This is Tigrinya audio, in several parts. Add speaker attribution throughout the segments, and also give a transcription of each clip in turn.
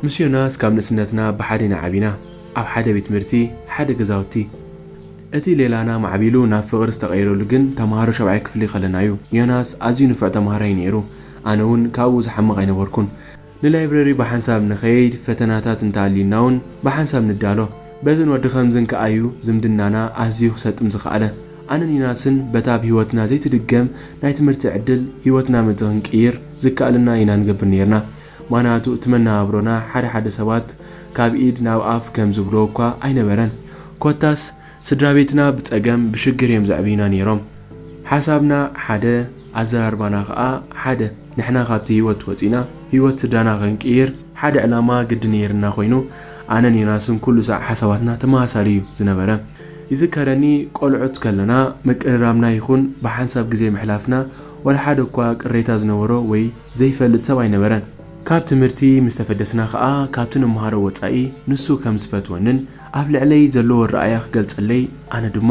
Speaker 1: ምስ ዮናስ ካብ ንእስነትና ብሓደ ኢና ዓቢና፣ ኣብ ሓደ ቤት ትምህርቲ፣ ሓደ ገዛውቲ። እቲ ሌላና ማዕቢሉ ናብ ፍቕሪ ዝተቐየረሉ ግን ተማሃሮ ሻብዓይ ክፍሊ ከለና'ዩ። ዮናስ ኣዝዩ ንፉዕ ተማሃራይ'ዩ ነይሩ፣ ኣነ'ውን ካብኡ ዝሓምቕ ኣይነበርኩን። ንላይብረሪ ብሓንሳብ ንኸይድ፣ ፈተናታት እንተኣልዩናውን ብሓንሳብ ንዳሎ። በዝን ወዲ ኸምዝን ከኣዩ ዝምድናና ኣዝዩ ክሰጥም ዝኸኣለ። ኣነን ዩናስን በታ ኣብ ህይወትና ዘይትድገም ናይ ትምህርቲ ዕድል ህይወትና ምእንቲ ክንቅይር ዝከኣለና ኢና ንገብር ነይርና። ምኽንያቱ እቲ መነባብሮና ሓደ ሓደ ሰባት ካብ ኢድ ናብ ኣፍ ከም ዝብልዎ እኳ ኣይነበረን። ኮታስ ስድራቤትና ብጸገም ብሽግር እዮም ዘዕብዩና ኔሮም ሓሳብና ሓደ ኣዘራርባና ከኣ ሓደ ንሕና ካብቲ ሂወት ወጺና ሂወት ስድራና ክንቅይር ሓደ ዕላማ ግዲ ኔርና ኮይኑ ኣነን ዮናስን ኩሉ ሳዕ ሓሳባትና ተመሳሳሊ እዩ ዝነበረ ይዝከረኒ ቆልዑት ከለና ምቅርራብና ይኹን ብሓንሳብ ግዜ ምሕላፍና ወላ ሓደ እኳ ቅሬታ ዝነበሮ ወይ ዘይፈልጥ ሰብ ኣይነበረን ካብ ትምህርቲ ምስ ተፈደስና ከኣ ካብቲ ንመሃሮ ወጻኢ ንሱ ከም ዝፈትወንን ኣብ ልዕለይ ዘለዎ ኣረኣእያ ክገልጸለይ ኣነ ድማ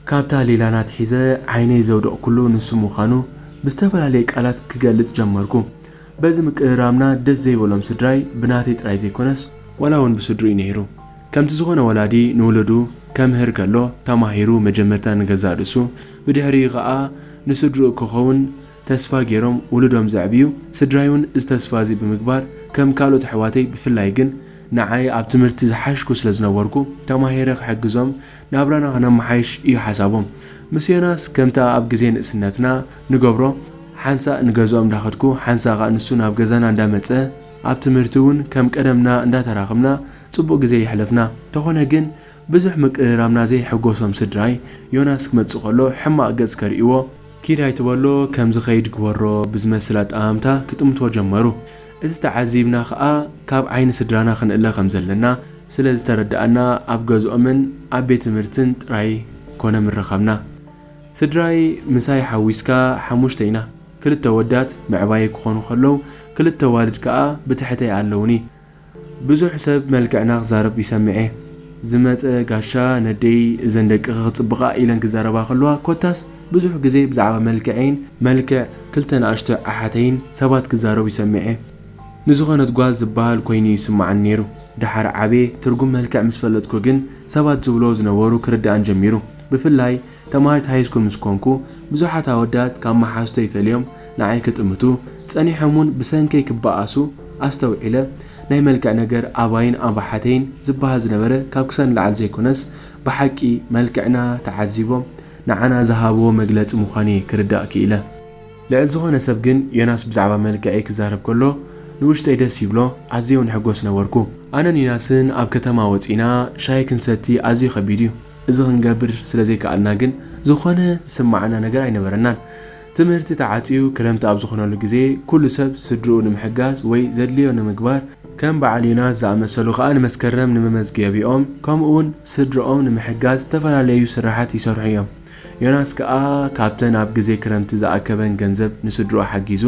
Speaker 1: ካብታ ሊላን ኣትሒዘ ዓይነይ ዘውደቕኩሉ ንሱ ምዃኑ ብዝተፈላለየ ቃላት ክገልጽ ጀመርኩ። በዚ ምቅርራብና ደስ ዘይበሎም ስድራይ ብናተይ ጥራይ ዘይኮነስ፣ ዋላ ውን ብስድርኡ ነይሩ፣ ከምቲ ዝኾነ ወላዲ ንውሉዱ ከምህር ከሎ ተማሂሩ መጀመርታ ንገዛእ ርእሱ ብድሕሪኡ ከኣ ንስድርኡ ክኸውን፣ ተስፋ ገይሮም ውሉዶም ዘዕብዩ ስድራይውን እዚ ተስፋ እዚ ብምግባር ከም ካልኦት ኣሕዋተይ ብፍላይ ግን ንዓይ ኣብ ትምህርቲ ዝሓሽኩ ስለ ዝነበርኩ ተማሂረ ክሕግዞም ናብራና ክነመሓይሽ እዩ ሓሳቦም ምስ ዮናስ ከምታ ኣብ ግዜ ንእስነትና ንገብሮ ሓንሳእ ንገዝኦም እንዳኸድኩ ሓንሳእ ከኣ ንሱ ናብ ገዛና እንዳመጸ ኣብ ትምህርቲ እውን ከም ቀደምና እንዳተራኽብና ጽቡቕ ግዜ የሕለፍና ተኾነ ግን ብዙሕ ምቅርራብና ዘይሐጎሶም ስድራይ ዮናስ ክመጽእ ከሎ ሕማቕ ገጽ ከርእይዎ ኪድ ኣይትበሎ ከም ዝኸይድ ግበሮ ብዝመስል ኣጠማምታ ክጥምቶ ጀመሩ። እዚ ተዓዚብና ከኣ ካብ ዓይኒ ስድራና ክንእለ ከም ዘለና ስለ ዝተረዳእና ኣብ ገዝኦምን ኣብ ቤት ትምህርትን ጥራይ ኮነ ምረኸብና። ስድራይ ምሳይ ሓዊስካ ሓሙሽተ ኢና፣ ክልተ ኣወዳት መዕባየይ ክኾኑ ከለዉ ክልተ ኣዋልድ ከኣ ብትሕተይ ኣለዉኒ። ብዙሕ ሰብ መልክዕና ክዛረብ ይሰምዕ'የ። ዝመጸ ጋሻ ነደይ እዘን ደቅኺ ክጽብቓ ኢለን ክዛረባ ከለዋ ኮታስ ብዙሕ ግዜ ብዛዕባ መልክዐይን መልክዕ ክልተ ንኣሽቱ ኣሓተይን ሰባት ክዛረቡ ይሰምዕ'የ። ንዝኾነት ጓል ዝበሃል ኮይኑ'ዩ ዝስምዓኒ ነይሩ። ደሓር ዓብየ ትርጉም መልክዕ ምስ ፈለጥኩ ግን ሰባት ዝብልዎ ዝነበሩ ክርድኣኒ ጀሚሩ። ብፍላይ ተማሃሪት ሃይስኩል ምስ ኮንኩ፣ ብዙሓት ኣወዳት ካብ መሓዙተይ ፈልዮም ንዓይ ክጥምቱ፣ ጸኒሖም'ውን ብሰንከይ ክበኣሱ ኣስተውዒለ። ናይ መልክዕ ነገር ኣባይን ኣባሓተይን ዝበሃል ዝነበረ ካብ ክሳድ ንላዕሊ ዘይኮነስ፣ ብሓቂ መልክዕና ተዓዚቦም ንዓና ዝሃብዎ መግለጺ ምዃኑ'የ ክርዳእ ክኢለ። ልዕሊ ዝኾነ ሰብ ግን ዮናስ ብዛዕባ መልክዐይ ክዛረብ ከሎ ንውሽጠይ ደስ ይብሎ፣ ኣዝየ'ውን እሕጎስ ነበርኩ። ኣነን ዮናስን ኣብ ከተማ ወጺእና ሻሂ ክንሰቲ ኣዝዩ ከቢድ'ዩ። እዚ ክንገብር ስለ ዘይከኣልና ግን ዝኾነ ዝስመዓና ነገር ኣይነበረናን። ትምህርቲ ተዓጽዩ ክረምቲ ኣብ ዝኾነሉ ግዜ ኩሉ ሰብ ስድርኡ ንምሕጋዝ ወይ ዘድልዮ ንምግባር፣ ከም በዓል ዮናስ ዝኣመሰሉ ከኣ ንመስከረም ንመመዝገቢኦም ከምኡ'ውን ስድርኦም ንምሕጋዝ ዝተፈላለዩ ስርሓት ይሰርሑ እዮም። ዮናስ ከኣ ካብተን ኣብ ግዜ ክረምቲ ዝኣከበን ገንዘብ ንስድርኡ ሓጊዙ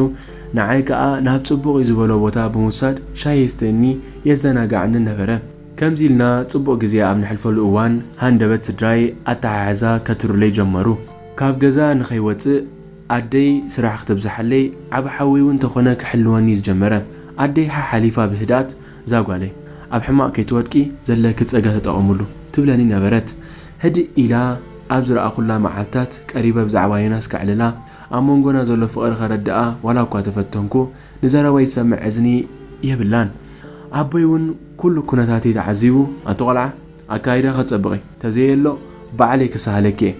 Speaker 1: ንዓይ ከኣ ናብ ጽቡቕ እዩ ዝበሎ ቦታ ብምውሳድ ሻሂ የስተየኒ የዘናግዓንን ነበረ። ከምዚ ኢልና ጽቡቕ ግዜ ኣብ ነሕልፈሉ እዋን፣ ሃንደበት ስድራይ ኣተሓሕዛ ከትርሩለይ ጀመሩ። ካብ ገዛ ንኸይወጽእ ኣደይ ስራሕ ክተብዝሓለይ፣ ዓቢ ሓወይ'ውን ተኾነ ክሕልወኒ'ዩ ዝጀመረ። ኣደይ ሓሓሊፋ ብህድኣት፣ እዛ ጓለይ፣ ኣብ ሕማቕ ከይትወድቂ ዘለኪ ጸጋ ተጠቐምሉ፣ ትብለኒ ነበረት። ህድእ ኢላ ኣብ ዝረኣኹላ መዓልትታት፣ ቀሪበ ብዛዕባ ዮናስ ከዕልላ፣ ኣብ መንጎና ዘሎ ፍቕሪ ከረድኣ ዋላ'ኳ ተፈተንኩ፣ ንዘረበይ ትሰምዕ እዝኒ የብላን። ኣቦይ ውን ኩሉ ኩነታተይ ተዓዚቡ ኣቲ ቆልዓ ኣካይዳኺ ኣጸብቒ ተዘየሎ ባዕለይ ክሰሃለኪ እየ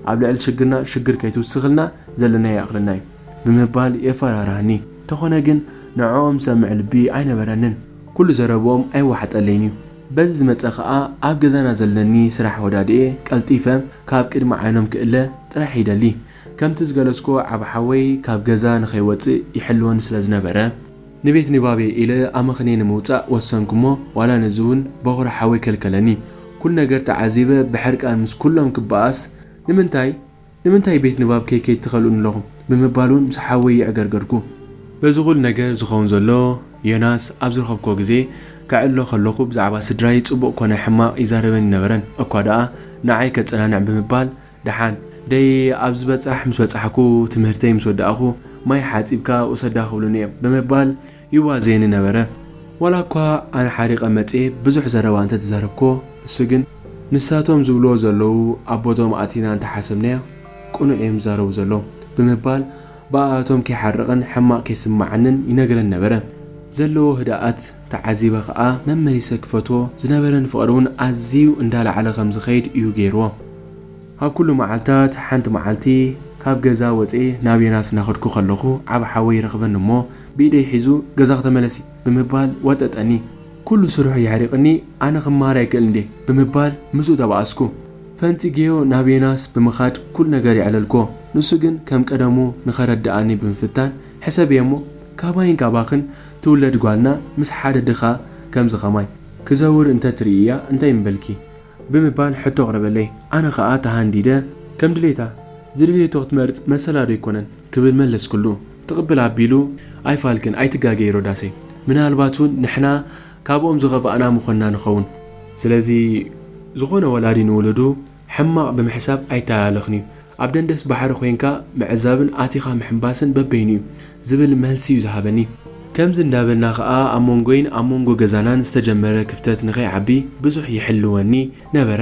Speaker 1: ኣብ ልዕሊ ሽግርና ሽግር ከይትውስኽልና ዘለናዮ ይኣኽለና እዩ ብምባል የፈራርሃኒ ተኾነ ግን ንዕኦም ዝሰምዕ ልቢ ኣይነበረንን ኩሉ ዘረብኦም ኣይዋሓጠለይን እዩ በዚ ዝመጸ ከኣ ኣብ ገዛና ዘለኒ ስራሕ ወዳድኤ ቀልጢፈ ካብ ቅድሚ ዓይኖም ክእለ ጥራሕ ይደሊ ከምቲ ዝገለጽኩ ዓቢ ሓወይ ካብ ገዛ ንኸይወጽእ ይሕልወኒ ስለ ዝነበረ፣ ንቤት ንባብ'የ ኢለ ኣመኽንየ ንምውጻእ ወሰንኩ'ሞ ዋላ ነዚ'ውን በዅሪ ሓወይ ከልከለኒ። ኵሉ ነገር ተዓዚበ ብሕርቃን ምስ ኵሎም ክበኣስ፣ ንምንታይ? ንምንታይ ቤት ንባብ ከይከይድ ትኸልኡኒ ኣለኹም? ብምባል'ውን ምስ ሓወይ የዕገርገርኩ። በዚ ኵሉ ነገር ዝኸውን ዘሎ፣ ዮናስ ኣብ ዝረኸብኩዎ ግዜ፣ ከዕልሎ ከለኹ ብዛዕባ ስድራይ ጽቡቕ ኰነ ሕማቕ ይዛረበኒ ኣይነበረን፣ እኳ ደኣ ንዓይ ከጸናንዕ ብምባል ደሓን ደይ ኣብ ዝበጻሕ ምስ በጻሕኩ ትምህርተይ ምስ ወዳእኹ ማይ ሓጺብካ ውሰዳ ክብሉኒ እዮም ብምባል ይዋዘየኒ ነበረ። ዋላ እኳ ኣነ ሓሪቐ መጽየ ብዙሕ ዘረባ እንተ ተዛረብኩዎ ንሱ ግን ንሳቶም ዝብሉዎ ዘለዉ ኣብ ቦትኦም ኣእቲና እንተ ሓሰብናዮ ቅኑዕ እዮም ዝዛረቡ ዘለዉ ብምባል ብኣኣቶም ከይሓርቕን ሕማቕ ከይስመዓንን ይነግረኒ ነበረ። ዘለዎ ህድኣት። ተዓዚበ ከኣ መመሊሰ ክፈትዎ ዝነበረኒ ፍቕሪ ውን ኣዝዩ እንዳላዓለ ከም ዝኸይድ እዩ ገይርዎ። ኣብ ኩሉ መዓልታት ሓንቲ መዓልቲ ካብ ገዛ ወጽኤ ናብ ዮናስ እናኸድኩ ከለኹ ዓቢ ሓወይ ይረኽበኒ እሞ ብኢደይ ሒዙ ገዛኺ ተመለሲ ብምባል ወጠጠኒ። ኩሉ ስርሑ የሕሪቕኒ ኣነ ክመሃር ኣይክእልን ድየ ብምባል ምስኡ ተባኣስኩ። ፈንጺገዮ ናብ ዮናስ ብምኻድ ኩሉ ነገር የዕለልክዎ ንሱ ግን ከም ቀደሙ ንኸረደኣኒ ብምፍታን ሕሰብየሞ ካባይን ካባኽን ትውለድ ጓልና ምስ ሓደ ድኻ ከምዚ ከማይ ክዘውር እንተ ትርእይያ እንታይ ምበልኪ? ብምባል ሕቶ ኣቕረበለይ። ኣነ ከኣ ተሃንዲደ። ከም ድሌታ ዝደለየቶ ክትመርጽ መሰላዶ ኣይኮነን? ክብል መለስኩሉ። ትቕብል ኣቢሉ ኣይፋልክን፣ ኣይትጋገዪ ሮዳሰይ። ምናልባት እውን ንሕና ካብኦም ዝኸፋእና ምኾንና ንኸውን። ስለዚ ዝኾነ ወላዲ ንውሉዱ ሕማቕ ብምሕሳብ ኣይተላለኽን'ዩ። ኣብ ደንደስ ባሕሪ ኮይንካ ምዕዛብን ኣቲኻ ምሕንባስን በበይኑ'ዩ። ዝብል መልሲ'ዩ ዝሃበኒ። ከምዚ እንዳበልና ከኣ ኣብ መንጎይን ኣብ መንጎ ገዛናን ዝተጀመረ ክፍተት ንከይዓቢ ብዙሕ ይሕልወኒ ነበረ።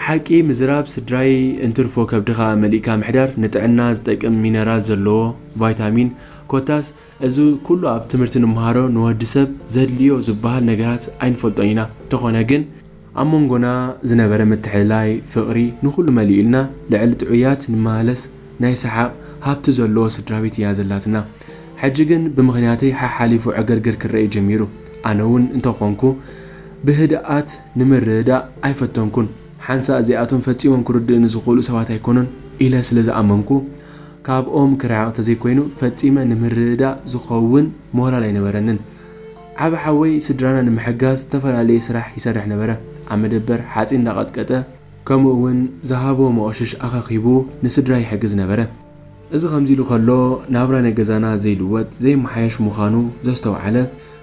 Speaker 1: ሓቂ ምዝራብ ስድራይ እንትርፎ ከብድኻ መሊእካ ምሕዳር ንጥዕና ዝጠቅም ሚነራል ዘለዎ ቫይታሚን ኮታስ፣ እዚ ኩሉ ኣብ ትምህርቲ ንመሃሮ ንወዲ ሰብ ዘድልዮ ዝበሃል ነገራት ኣይንፈልጦን ኢና እንተኾነ ግን ኣብ መንጎና ዝነበረ ምትሕልላይ ፍቅሪ ንኹሉ መሊኡልና ልዕሊ ጥዑያት ንመሃለስ ናይ ሰሓቅ ሃብቲ ዘለዎ ስድራቤት ኢያ ዘላትና ሕጂ ግን ብምኽንያተይ ሓሓሊፉ ዕግርግር ክረኤ ጀሚሩ ኣነውን እንተኾንኩ ብህድኣት ንምርድዳእ ኣይፈተንኩን ሓንሳእ እዚኣቶም ፈጺሞም ክርድእኒ ዝኽእሉ ሰባት ኣይኮኑን ኢለ ስለ ዝኣመንኩ ካብኦም ክርሕቕ ተዘይኮይኑ ፈጺመ ንምርድዳእ ዝኸውን ሞራል ኣይነበረንን። ዓቢ ሓወይ ስድራና ንምሕጋዝ ዝተፈላለየ ስራሕ ይሰርሕ ነበረ። ኣብ መደበር ሓጺን እንዳቐጥቀጠ፣ ከምኡ'ውን ዝሃቦ መቑሽሽ ኣኸኪቡ ንስድራይ ይሕግዝ ነበረ። እዚ ከምዚ ኢሉ ከሎ ናብራ ናይ ገዛና ዘይልወጥ ዘይመሓየሽ ምዃኑ ዘስተውዓለ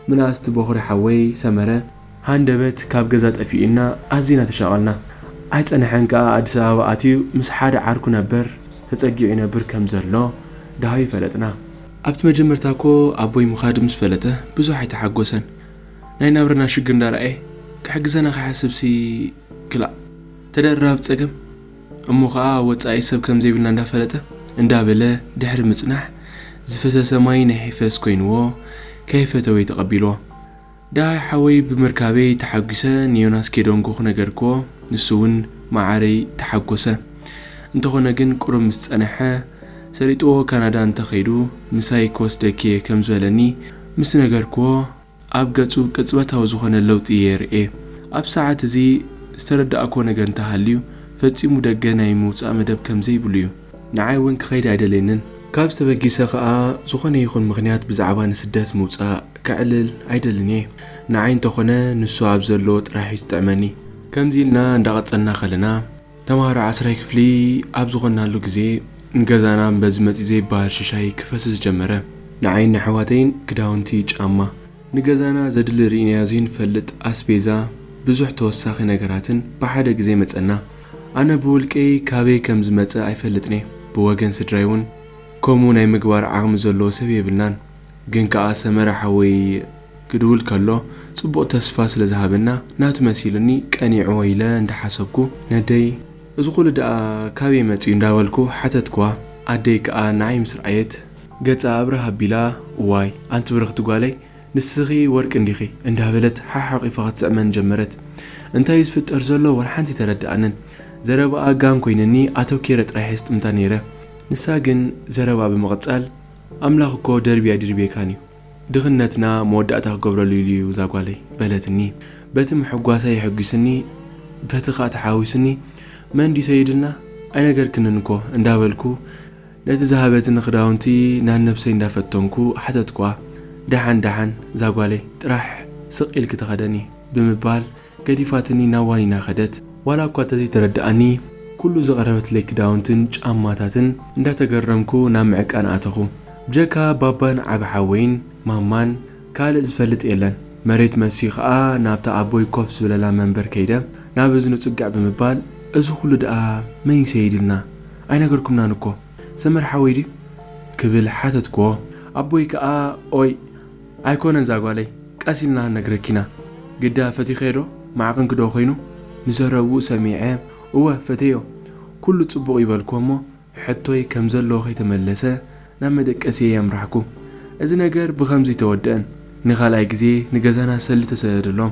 Speaker 1: ምናእስቲ ቦኽሪ ሓወይ ሰመረ፣ ሃንደበት ካብ ገዛ ጠፊኡና ኣዚና ተሻቐልና። ኣይጸነሐን ከኣ ኣዲስ ኣበባ ኣትዩ ምስ ሓደ ዓርኩ ነበር ተጸጊዑ ይነብር ከም ዘሎ ደሃዩ ፈለጥና። ኣብቲ መጀመርታ እኮ ኣቦይ ምኻዱ ምስ ፈለጠ ብዙሕ ኣይተሓጎሰን። ናይ ናብራና ሽግር እንዳ ረኣየ ክሕግዘና ክሓስብሲ ክላእ ተደራራቢ ጸገም። እሞ ከኣ ኣብ ወጻኢ ሰብ ከም ዘይብልና እንዳ ፈለጠ እንዳ በለ ድሕሪ ምጽናሕ ዝፈሰሰ ማይ ናይ ሒፈስ ኮይንዎ ከይፈተወ እዩ ተቐቢልዎ። ደሃይ ሓወይ ብምርካበይ ተሓጒሰ ንዮናስ ኬዶንጎ ክነገርክዎ ንሱ ውን መዓረይ ተሓጎሰ እንተኾነ ግን ቁሩብ ምስ ጸነሐ ሰሊጥዎ ካናዳ እንተ ከይዱ ምሳይ ክወስደኪየ ከም ዝበለኒ ምስ ነገርክዎ ኣብ ገጹ ቅጽበታዊ ዝኾነ ለውጢ እየ ርእየ ኣብ ሰዓት እዚ ዝተረዳእክዎ ነገር እንተ ሃልዩ ፈጺሙ ደገ ናይ ምውጻእ መደብ ከም ዘይብሉ እዩ ንዓይ እውን ክኸይድ ኣይደልየንን። ካብዚ ተበጊሰ ከኣ ዝኾነ ይኹን ምኽንያት ብዛዕባ ንስደት ምውጻእ ከዕልል ኣይደልን እየ። ንዓይ እንተኾነ ንሱ ኣብ ዘለዎ ጥራሕ እዩ ዝጥዕመኒ። ከምዚ ኢልና እንዳቐጸልና ከለና ተማሃሮ ዓስራይ ክፍሊ ኣብ ዝኾንናሉ ግዜ ንገዛና እምበዚ መጺኡ ዘይበሃል ሽሻይ ክፈስስ ጀመረ። ንዓይን ንኣሕዋተይን ክዳውንቲ፣ ጫማ። ንገዛና ዘድሊ ርኢናዮ ዘይንፈልጥ ኣስቤዛ ብዙሕ ተወሳኺ ነገራትን ብሓደ ግዜ መጸና። ኣነ ብውልቀይ ካበይ ከም ዝመጸ ኣይፈልጥን'የ፣ ብወገን ስድራይ'ውን ከምኡ ናይ ምግባር ዓቕሚ ዘለዎ ሰብ የብልናን። ግን ከኣ ሰመረ ሓወይ ክድውል ከሎ ጽቡቕ ተስፋ ስለ ዝሃበና ናቱ መሲሉኒ ቀኒዕዎ ኢለ እንዳ ሓሰብኩ ነደይ እዚ ኩሉ ደኣ ካበይ መጺኡ እንዳበልኩ ሓተትክዋ። ኣደይ ከኣ ንዓይ ምስ ረኣየት ገጻ ኣብርህ ኣቢላ እዋይ ኣንቲ ብርኽቲ ጓለይ ንስኺ ወርቂ እንዲኺ እንዳበለት ሓሓቚፋ ክትስዕመን ጀመረት። እንታይ እዩ ዝፍጠር ዘሎ ወላ ሓንቲ ኣይተረድኣንን። ዘረባኣ ጋን ኮይንኒ ኣተኪረ ጥራሕ እየ ዝጥምታ ነይረ። ንሳ ግን ዘረባኣ ብምቕጻል ኣምላኽ እኮ ደርብዩ ኣይድርብየካን እዩ። ድኽነትና መወዳእታ ክገብረሉ ኢሉ እዩ እዛ ጓለይ። በለትኒ። በቲ ምሕጓሳ የሕጒስኒ በቲ ከኣ ተሓዊስኒ መን ድዩ ሰይድና ኣይነገርክንን እኮ እንዳበልኩ፣ ነቲ ዝሃበትኒ ክዳውንቲ ናነብሰይ እንዳፈተንኩ ሓተትኩዋ ዳሓን ዳሓን ዛጓለይ ጥራሕ ስቅ ኢልኪ ተከደኒ ብምባል ገዲፋትኒ ናብ ዋኒና ከደት ዋላ እኳ ተዘይተረደኣኒ ኩሉ ዘቅረበትለይ ክዳውንትን ጫማታትን እንዳተገረምኩ ናብ ምዕቃን ኣተኹ ብጀካ ባባን ዓቢ ሓወይን ማማን ካልእ ዝፈልጥ የለን መሬት መሲዩ ከኣ ናብታ ኣቦይ ኮፍ ዝብለላ መንበር ከይደ ናብ እዝኑ ጽግዕ ብምባል እዚ ኩሉ ደኣ መን ይሰይድልና ኣይነገርኩምናን እኮ ሰመረ ሓወይ ድዩ ክብል ሓተትክዎ ኣቦይ ከኣ ኦይ ኣይኮነን ዛጓለይ ቀስ ኢልና ክንነግረኪ ኢና ግዳ ፈቲኽዮ ዶ ማዕቅንኪ ዶ ኮይኑ ንዘረብኡ ሰሚዐ እወ ፈቴዮ ኩሉ ጽቡቅ እዩ በልክዎ እሞ ሕቶይ ከም ዘለዎ ከይተመለሰ ናብ መደቀሲየይ ኣምራሕኩ እዚ ነገር ብከምዚ ኣይተወደእን ንካልኣይ ግዜ ንገዛና ሰልዲ ተሰደደሎም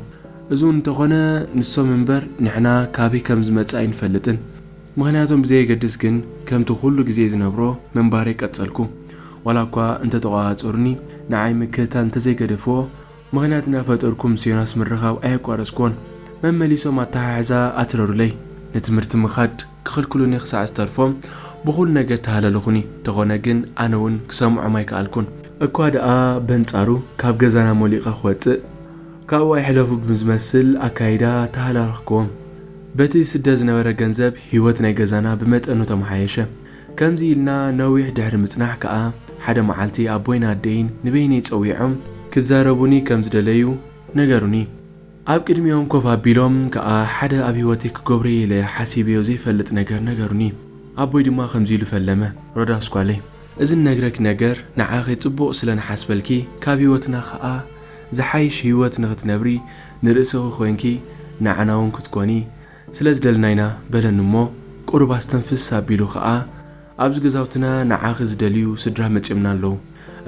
Speaker 1: እዚውን እንተኮነ ንሶም እንበር ንሕና ካበይ ከም ዝመጸ ኣይንፈልጥን ምኽንያቶም ብዘየገድስ ግን ከምቲ ኩሉ ግዜ ዝነብሮ ምንባረይ ቀጸልኩ። ዋላ እኳ እንተ ተቖጻጸሩኒ፣ ንዓይ ምክትታል እንተ ዘይገደፍዎ፣ ምኽንያት እናፈጠርኩ ምስ ዮናስ ምርኻብ ኣየቋረጽክዎን። መመሊሶም ኣተሓሕዛ ኣትረሩለይ። ንትምህርቲ ምኻድ ክኽልክሉኒ ክሳዕ ዝተርፎም ብኹሉ ነገር ተሃለሉኹኒ። እንተኾነ ግን ኣነ እውን ክሰምዖም ኣይከኣልኩን። እኳ ደኣ በንጻሩ ካብ ገዛና ሞሊቐ ክወጽእ፣ ካብኡ ኣይሕለፉ ብዝመስል ኣካይዳ ተሃላልኽክዎም። በቲ ዝስደድ ዝነበረ ገንዘብ ህይወት ናይ ገዛና ብመጠኑ ተመሓየሸ። ከምዚ ኢልና ነዊሕ ድሕሪ ምጽናሕ ከኣ ሓደ መዓልቲ ኣቦይን ኣደይን ንበይነይ ጸዊዖም ክዛረቡኒ ከም ዝደለዩ ነገሩኒ። ኣብ ቅድሚኦም ኮፍ ኣቢሎም ከኣ ሓደ ኣብ ህይወተይ ክገብሮ'የ ኢለ ሓሲበዮ ዘይፈልጥ ነገር ነገሩኒ። ኣቦይ ድማ ከምዚ ኢሉ ፈለመ፣ ሮዳስ ጓለይ፣ እዚ ንነግረኪ ነገር ንዓኺ ጽቡቕ ስለ ንሓስበልኪ ካብ ህይወትና ከኣ ዝሓይሽ ህይወት ንኽትነብሪ ንርእስኺ ኮይንኪ ንዓና ውን ክትኮኒ ስለ ዝደለና ኢና በለኒ እሞ ቁሩብ ኣስተንፍስ ኣቢሉ ከኣ ኣብዚ ገዛውትና ንዓኺ ዝደልዩ ስድራ መጽዮምና ኣለዉ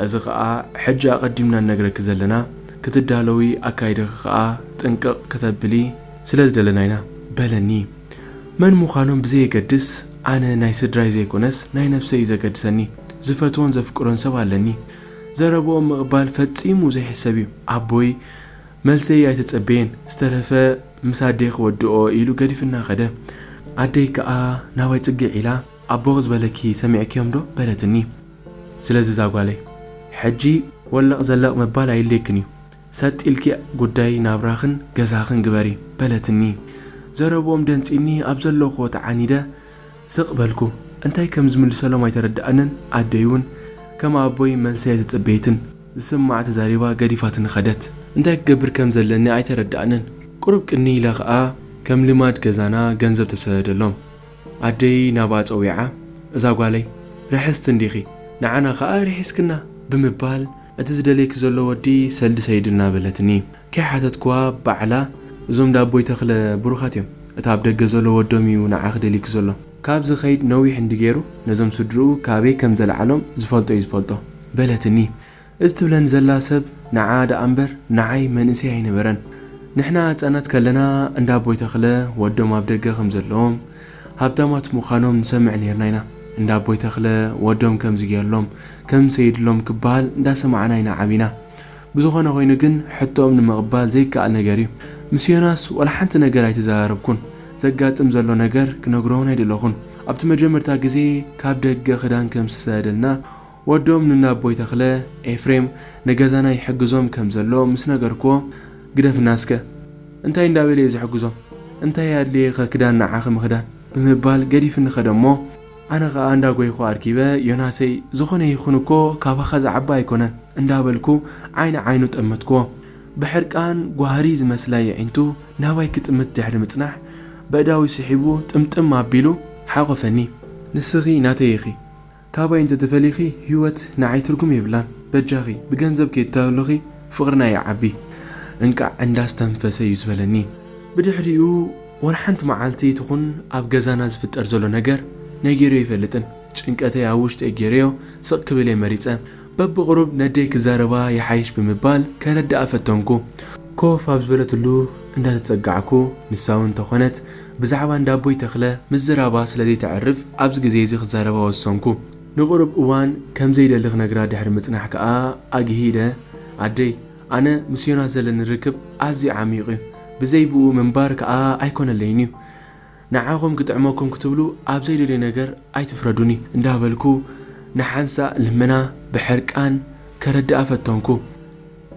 Speaker 1: እዚ ከኣ ሕጂ ኣቐዲምና ንነግረኪ ዘለና ክትዳለዊ ኣካይዳኺ ከኣ ጥንቅቕ ክተብሊ ስለ ዝደለና ኢና በለኒ መን ምዃኖም ብዘየገድስ ኣነ ናይ ስድራይ ዘይኮነስ ናይ ነብሰይ እዩ ዘገድሰኒ ዝፈትዎን ዘፍቅሮን ሰብ ኣለኒ ዘረብኦም ምቕባል ፈጺሙ ዘይሕሰብ እዩ ኣቦይ መልሰይ ኣይተጸበየን ዝተረፈ ምስ ኣደይ ክወድኦ ኢሉ ገዲፍና ከደ። ኣደይ ክኣ ናባይ ጽግዕ ኢላ ኣቦኺ ዝበለኪ ሰሚዕክዮም ዶ በለትኒ። ስለዚ እዛ ጓለይ ሕጂ ወለቕ ዘለቕ ምባል ኣይድልየክን እዩ ሰጥ ኢልኪ ጉዳይ ናብራኽን ገዛኽን ግበሪ በለትኒ። ዘረብኦም ደንጺኒ ኣብ ዘለኹዎ ተዓኒደ ስቕ በልኩ። እንታይ ከም ዝምልሰሎም ኣይተረድኣንን ኣደይ ውን ከም ኣቦይ መልሰይ ኣይተጸበየትን። ዝስማዕ ተዛሪባ ገዲፋትኒ ከደት። እንታይ ክገብር ከም ዘለኒ ኣይተረድኣንን። ቁሩብ ቅንይ ኢለ ከኣ ከም ልማድ ገዛና ገንዘብ ተሰደደሎም። ኣደይ ናብኣ ጸዊዓ እዛ ጓለይ ርሕስቲ እንዲኺ ንዓና ከኣ ርሒስክና ብምባል እቲ ዝደልየኪ ዘሎ ወዲ ሰልዲ ሰይድልና በለትኒ። ከይሓተትክዋ ባዕላ እዞም ዳቦይ ተኽለ ብሩኻት እዮም እቲ ኣብ ደገ ዘሎ ወዶም እዩ ንዓኺ ደልዩኪ ዘሎ። ካብ ዝኸይድ ነዊሕ እንድገይሩ ነዞም ስድርኡ ካበይ ከም ዘልዓሎም ዝፈልጦ'ዩ ዝፈልጦ። በለትኒ። እዚ ትብለኒ ዘላ ሰብ ንዓኣ ደኣ እምበር ንዓይ መንእሰይ ኣይነበረን። ንሕና ህጻናት ከለና እንዳ ኣቦይ ተኽለ ወዶም ኣብ ደገ ከም ዘለዎም ሃብታማት ምዃኖም ንሰምዕ ኔርና ኢና። እንዳ ኣቦይ ተኽለ ወዶም ከምዚ ጌርሎም ከም ሰይድሎም ክበሃል እንዳሰማዕና ኢና ዓቢና። ብዝኾነ ኮይኑ ግን ሕቶኦም ንምቕባል ዘይከኣል ነገር እዩ። ምስ ዮናስ ዋላ ሓንቲ ነገር ኣይተዘራረብኩን። ዘጋጥም ዘሎ ነገር ክነግሮ'ውን ኣይደለኹን። ኣብቲ መጀመርታ ግዜ ካብ ደገ ክዳን ከም ዝተሰደደልና ወዶም ንናቦይ ተኽለ፣ ኤፍሬም፣ ንገዛና ይሕግዞም ከም ዘሎ ምስ ነገርኩዎ ግደፍና እስከ! እንታይ እንዳ በለ'የ ዝሕግዞም? እንታይ ኣድለየ'ኸ ክዳን ንዓኺ ምኽዳን? ብምባል ገዲፍኒ ከደ'ሞ፣ ኣነ ከኣ እንዳ ጎይኹ ኣርኪበ ዮናሰይ ዝኾነ ይኹን እኮ ካባኻ ዝዓቢ ኣይኮነን እንዳ በልኩ ዓይኒ ዓይኑ ጠመትክዎ ብሕርቃን ጓህሪ ዝመስላ የዒንቱ ናባይ ክጥምት ድሕሪ ምጽናሕ በእዳዊ ስሒቡ ጥምጥም ኣቢሉ ሓቖፈኒ። ንስኺ ናተይ ኢኺ ካባይ እንተ ተፈሊኺ ሂወት ንዓይ ትርጉም የብላን በጃኺ ብገንዘብ ከይተታልልኺ ፍቕርና ይዓቢ እንቃዕ እንዳ ኣስተንፈሰ እዩ ዝበለኒ ብድሕሪኡ። ወላ ሓንቲ መዓልቲ ትኹን ኣብ ገዛና ዝፍጠር ዘሎ ነገር ነጊረዮ ኣይፈልጥን። ጭንቀተይ ኣብ ውሽጠይ ገይረዮ ስቕ ክብል እየ መሪጸ። በብቕሩብ ነደይ ክዛረባ ይሓይሽ ብምባል ከረድኣ ፈተንኩ። ኮፍ ኣብ ዝበለትሉ እንዳተጸጋዕኩ ንሳውን እንተኾነት ብዛዕባ እንዳ ኣቦይ ተኽለ ምዝራባ ስለ ዘይተዕርፍ ኣብዚ ግዜ እዚ ክዛረባ ወሰንኩ። ንቕሩብ እዋን ከም ዘይደሊ ክነግራ ድሕሪ ምጽናሕ ከኣ ኣግሂደ ኣደይ። ኣነ ምስ ዮናስ ዘለኒ ርክብ ኣዝዩ ዓሚዩቕ እዩ ብዘይ ብኡ ምንባር ክኣ ኣይኮነለይን እዩ ንዓኹም ክጥዕመኩም ክትብሉ ኣብ ዘይደልዮ ነገር ኣይትፍረዱኒ እንዳበልኩ ንሓንሳእ ልመና ብሕርቃን ከረድኣ ፈተንኩ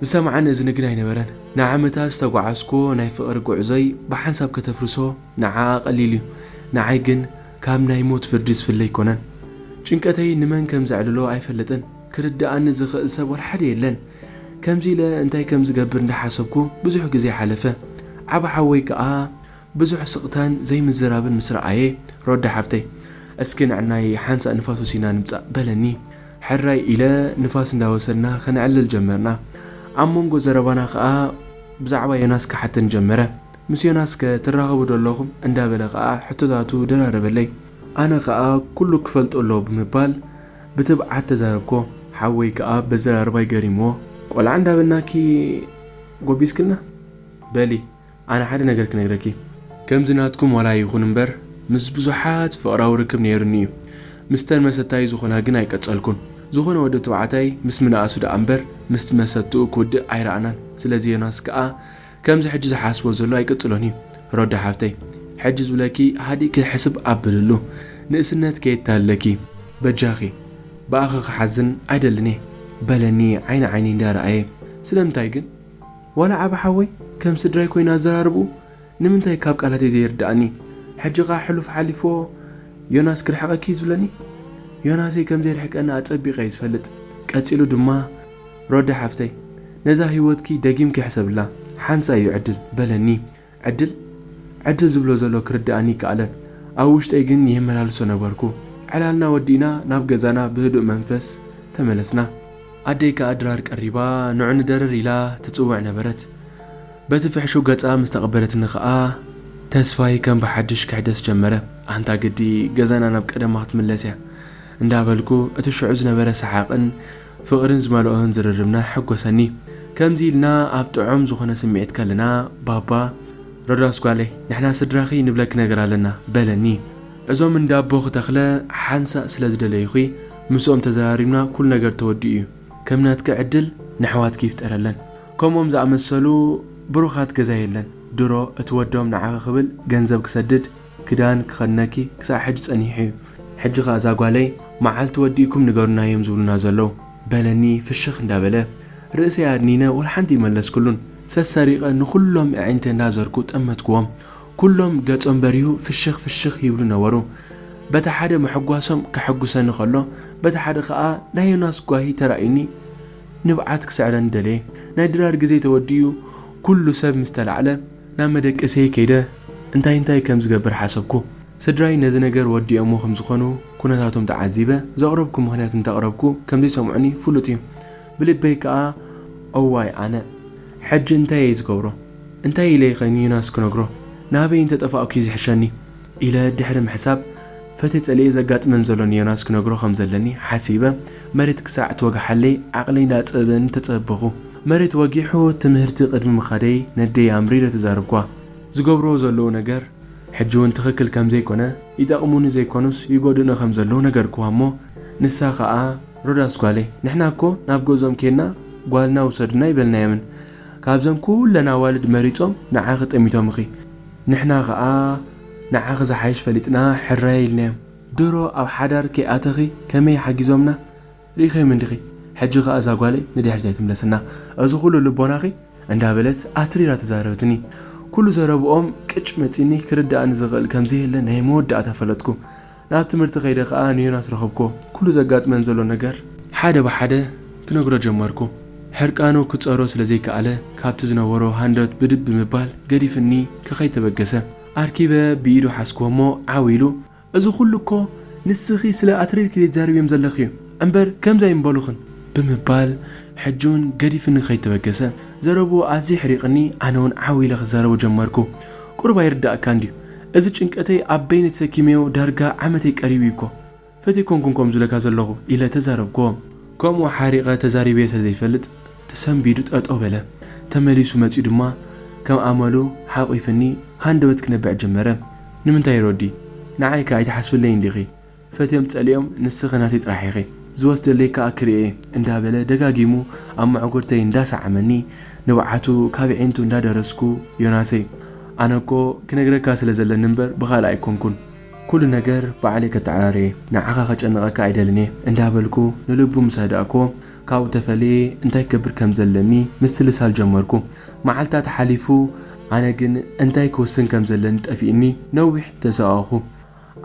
Speaker 1: ዝሰምዓኒ እዝኒ ግን ኣይነበረን ንዓመታት ዝተጓዓዝኩዎ ናይ ፍቕሪ ጉዕዞይ ብሓንሳብ ከተፍርሶ ንዓኣ ቀሊል እዩ ንዓይ ግን ካብ ናይ ሞት ፍርዲ ዝፍለ ኣይኮነን ጭንቀተይ ንመን ከም ዘዕልሎ ኣይፈልጥን ክርድኣኒ ዝኽእል ሰብ ወላ ሓደ የለን ከምዚ ኢለ እንታይ ከም ዝገብር እንዳሓሰብኩ ብዙሕ ግዜ ሓለፈ። ዓቢ ሓወይ ከኣ ብዙሕ ስቕታን ዘይምዝራብን ምስ ረኣየ፣ ሮዳ ሓፍተይ፣ እስኪ ንዕናይ ሓንሳእ ንፋስ ወሲድና ንምጻእ፣ በለኒ። ሕራይ ኢለ ንፋስ እንዳወሰድና ከነዕልል ጀመርና። ኣብ መንጎ ዘረባና ከኣ ብዛዕባ ዮናስ ክሓተኒ ጀመረ። ምስ ዮናስከ ትራኸቡ ዶ ኣለኹም? እንዳበለ ከኣ ሕቶታቱ ደራረበለይ። ኣነ ከኣ ኩሉ ክፈልጦ ኣለዎ ብምባል ብትብዓት ተዛረብኮ ሓወይ ክኣ በዘራርባይ ገሪምዎ። ቆልዓ እንዳበልናኪ ጎቢዝክና በሊ ኣነ ሓደ ነገር ክነግረኪ። ከምዚ ናትኩም ዋላ ይኹን እምበር ምስ ብዙሓት ፍቕራዊ ርክብ ነይሩኒ እዩ ምስተን መሰታዩ ዝኾና ግን ኣይቀጸልኩን ዝኾነ ወዲ ትብዓታይ ምስ ምንኣሱ ድኣ እምበር ምስ መሰትኡ ክውድእ ኣይረኣናን ስለዚ ዮናስ ክኣ ከምዚ ሕጂ ዝሓስቦ ዘሎ ኣይቅጽሎን እዩ ሮዳ ሓብተይ ሕጂ ዝብለኪ ሃዲእኪ ሕስብ ኣብልሉ ንእስነት ከየታልለኪ በጃኺ ብኣኺ ክሓዝን ኣይደልን እየ በለኒ ዓይኒ ዓይነይ እንዳ ራኣየ ስለምንታይ ግን ዋላ ዓቢ ሓወይ ከም ስድራይ ኮይኑ ኣዘራርብኡ ንምንታይ ካብ ቃላተይ ዘይርዳኣኒ ሕጂ ከኣ ሕሉፍ ሓሊፍዎ ዮናስ ክርሕቀኪ እዩ ዝብለኒ ዮናሰይ ከምዘይርሕቀኒ ኣጸቢቀ እየ ዝፈልጥ ቀጺሉ ድማ ሮዳ ሓፍተይ ነዛ ሂወትኪ ደጊምኪ ሕሰብላ ሓንሳእ እዩ ዕድል በለኒ ዕድል ዕድል ዝብሎ ዘሎ ክርድኣኒ ኣይከኣለን ኣብ ውሽጠይ ግን የመላልሶ ነበርኩ ዕላልና ወዲእና ናብ ገዛና ብህዱእ መንፈስ ተመለስና ኣደይ ከኣ ድራር ቀሪባ ንዑ ንደርር ኢላ ትጽውዕ ነበረት በቲ ፍሕሹው ገጻ ምስ ተቐበለትኒ ከኣ ተስፋይ ከም ብሓድሽ ክሕደስ ጀመረ ኣንታ ግዲ ገዛና ናብ ቀደማ ክትምለስ እያ እንዳበልኩ እቲ ሽዑ ዝነበረ ሰሓቕን ፍቕርን ዝመልኦን ዝርርብና ሕጎሰኒ። ከምዚ ኢልና ኣብ ጥዑም ዝኾነ ስምዒት ከለና ባባ፣ ሮዳስ ጓለይ ንሕና ስድራኺ ንብለኪ ነገር ኣለና በለኒ። እዞም እንዳ ኣቦኺ ተኽለ ሓንሳእ ስለ ዝደለዩኺ ምስኦም ተዘራሪብና ኩሉ ነገር ተወዲኡ እዩ። ከም ናትኪ ዕድል ነሕዋትኪ ይፍጠረለን። ከምኦም ዝኣመሰሉ ብሩኻት ገዛ የለን። ድሮ እቲ ወዶም ንዓኺ ክብል ገንዘብ ክሰድድ፣ ክዳን ክኸድነኪ ክሳዕ ሕጂ ጸኒሑ እዩ ሕጂ ከኣ እዛ ጓለይ መዓልቲ ወዲእኩም ንገሩና እዮም ዝብሉና ዘለዉ በለኒ ፍሽኽ እንዳበለ ርእሰይ ኣድኒነ ወልሓንቲ ኣይመለስኩሉን ሰሰሪቐ ንኹሎም ኣዒንተይ እንዳዘርኩ ጠመትኩዎም ኩሎም ገጾም በሪሁ ፍሽኽ ፍሽኽ ይብሉ ነበሩ በቲ ሓደ ምሕጓሶም ከሐጉሰኒ ከሎ በቲ ሓደ ከኣ ናይ ዮናስ ጓሂ ተራእዩኒ ንብዓት ክስዕረኒ ደለየ ናይ ድራር ግዜ ተወዲኡ ኩሉ ሰብ ምስ ተላዕለ ናብ መደቀሲየይ ከይደ እንታይ እንታይ ከም ዝገብር ሓሰብኩ። ስድራይ ነዚ ነገር ወዲኦሞ ከም ዝኾኑ ኩነታቶም ተዓዚበ ዘቕረብኩ ምኽንያት እንተቕረብኩ ከም ዘይሰምዑኒ ፍሉጥ እዩ። ብልበይ ከኣ እዋይ ኣነ ሕጂ እንታይ እየ ዝገብሮ? እንታይ ኢለይኸ ንዩናስ ክነግሮ? ናበይ እንተጠፋእኩ እዩ ዝሕሸኒ? ኢለ ድሕሪ ምሕሳብ፣ ፈትየ ጸሊኤ ዘጋጥመን ዘሎ ንዮናስ ክነግሮ ከም ዘለኒ ሓሲበ፣ መሬት ክሳዕ ትወግሓለይ ዓቕለይ እንዳጸበበኒ ተጸበኹ። መሬት ወጊሑ ትምህርቲ ቅድሚ ምኻደይ ነደይ ኣምሪረ ተዛረብኩዋ። ዝገብሩዎ ዘለዉ ነገር ሕጂ'ውን ትኽክል ከም ዘይኮነ፣ ይጠቕሙኒ ዘይኮኑስ ይጎድኡኒ ከም ዘለዉ ነገርኩዋ እሞ፣ ንሳ ከኣ ሮዳስ ጓለይ፣ ንሕና እኮ ናብ ገዝኦም ኬድና ጓልና ውሰዱና ኣይበልናዮምን፣ ካብዘን ኩለን ኣዋልድ መሪጾም ንዓኺ ጠሚቶምኺ፣ ንሕና ከኣ ንዓኺ ዝሓይሽ ፈሊጥና ሕራይ ኢልናዮም። ድሮ ኣብ ሓዳር ከይኣተኺ ከመይ ሓጊዞምና ርኢኺዮም እንዲኺ ሕጂ ከኣ እዛ ጓለይ ንድሕሪት ኣይትምለስና እዚ ኩሉ ልቦናኺ እንዳበለት ኣትሪራ ተዛረበትኒ። ኩሉ ዘረብኦም ቅጭ መጺኒ ክርድኣኒ ዝኽእል ከምዘየለ ናይ መወዳእታ ፈለጥኩ። ናብ ትምህርቲ ከይደ ከኣ ንዮናስ ረኸብኩዎ። ኩሉ ዘጋጥመን ዘሎ ነገር ሓደ ብሓደ ክነግሮ ጀመርኩ። ሕርቃኑ ክጸሮ ስለ ዘይከኣለ ካብቲ ዝነበሮ ሃንደበት ብድድ ብምባል ገዲፍኒ ከኸይድ ተበገሰ። ኣርኪበ ብኢዱ ሓዝኩዎ'ሞ ዓው ኢሉ እዚ ኩሉ እኮ ንስኺ ስለ ኣትሪርኪ ዘይትዛረብዮም ዘለኺ'ዩ። እምበር ከምዚ ኣይምበሉኽን። ብምባል ሕጂውን ገዲፍኒ ከይተበገሰ ዘረብኡ ኣዝዩ ኣሕሪቕኒ ኣነውን ዓው ኢለ ክዛረቦ ጀመርኩ። ቁሩብ ኣይርደኣካን ድዩ? እዚ ጭንቀተይ ኣብ በይነይ ተሰኪመዮ ዳርጋ ዓመተይ ቀሪቡ እዩ እኮ። ፈትየ ኣይኮንኩን ከምኡ ዝብለካ ዘለኹ። ኢለ ተዛረብኩዎ። ከምኡ ሓሪቐ ተዛሪበዮ ስለ ዘይፈልጥ ተሰንቢዱ ጠጠው በለ። ተመሊሱ መጺኡ ድማ ከም ኣመሉ ሓቚፉኒ ሃንደበት ክነብዕ ጀመረ። ንምንታይ ሮዲ? ንዓይ ከ ኣይትሓስብለይን ዲኺ? ፈትዮም ጸሊኦም ንስኺ ናተይ ጥራሕ ኢኺ፣ ዝወስደለይ ከኣ ክርኤ እየ እንዳበለ ደጋጊሙ ኣብ መዕጉርተይ እንዳሰዓመኒ ንብዓቱ ካብ የዒንቱ እንዳደረስኩ ዮናሰይ ኣነ እኮ ክነግረካ ስለ ዘለኒ እምበር ብኻልእ ኣይኮንኩን፣ ኩሉ ነገር ባዕለይ ከተዓራሪ እየ፣ ንዓኻ ከጨንቐካ ኣይደልን እየ እንዳበልኩ ንልቡ ምስ ኣህዳእኩዎ ካብኡ ተፈልየ እንታይ ክገብር ከም ዘለኒ ምስልሳል ጀመርኩ። መዓልታት ሓሊፉ ኣነ ግን እንታይ ክውስን ከም ዘለኒ ጠፊኡኒ ነዊሕ ተሳቐቕኩ።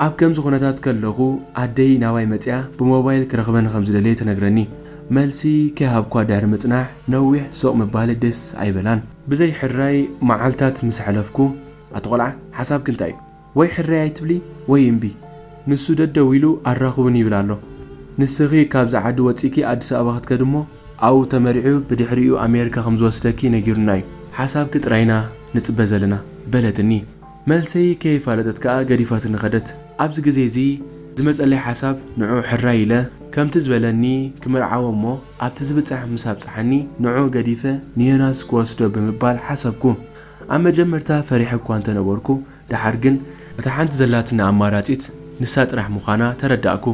Speaker 1: ኣብ ከምዚ ኩነታት ከለኹ ኣደይ ናባይ መጺኣ ብሞባይል ክረኽበኒ ከም ዝደለየ ትነግረኒ። መልሲ ከይሃብኳ ድሕሪ ምጽናሕ ነዊሕ ስቕ ምባለይ ደስ ኣይበላን። ብዘይ ሕራይ መዓልታት ምስ ኣሕለፍኩ፣ ኣቲ ቆልዓ ሓሳብኪ እንታይ እዩ? ወይ ሕራይ ኣይትብሊ ወይ እምቢ። ንሱ ደደው ኢሉ ኣራኽቡኒ ይብል ኣሎ። ንስኺ ካብዚ ዓዲ ወጺእኪ ኣዲስ ኣበባ ክትከዲ እሞ ኣብኡ ተመሪዑ ብድሕሪኡ ኣሜሪካ ከም ዝወስደኪ ነጊሩና እዩ። ሓሳብኪ ጥራይ ኢና ንጽበ ዘለና። በለትኒ። መልሰይ ከይፋለጠት ከኣ ገዲፋትኒ ከደት። ኣብዚ ግዜ እዚ ዝመጸለይ ሓሳብ ንዕኡ ሕራይ ኢለ ከምቲ ዝበለኒ ክምርዓዎ እሞ ኣብቲ ዝብጻሕ ምስ ኣብጽሓኒ ንዕኡ ገዲፈ ንዮናስ ክወስዶ ብምባል ሓሰብኩ። ኣብ መጀመርታ ፈሪሐ እኳ እንተ ነበርኩ ደሓር ግን እታ ሓንቲ ዘላትኒ ኣማራጺት ንሳ ጥራሕ ምዃና ተረዳእኩ።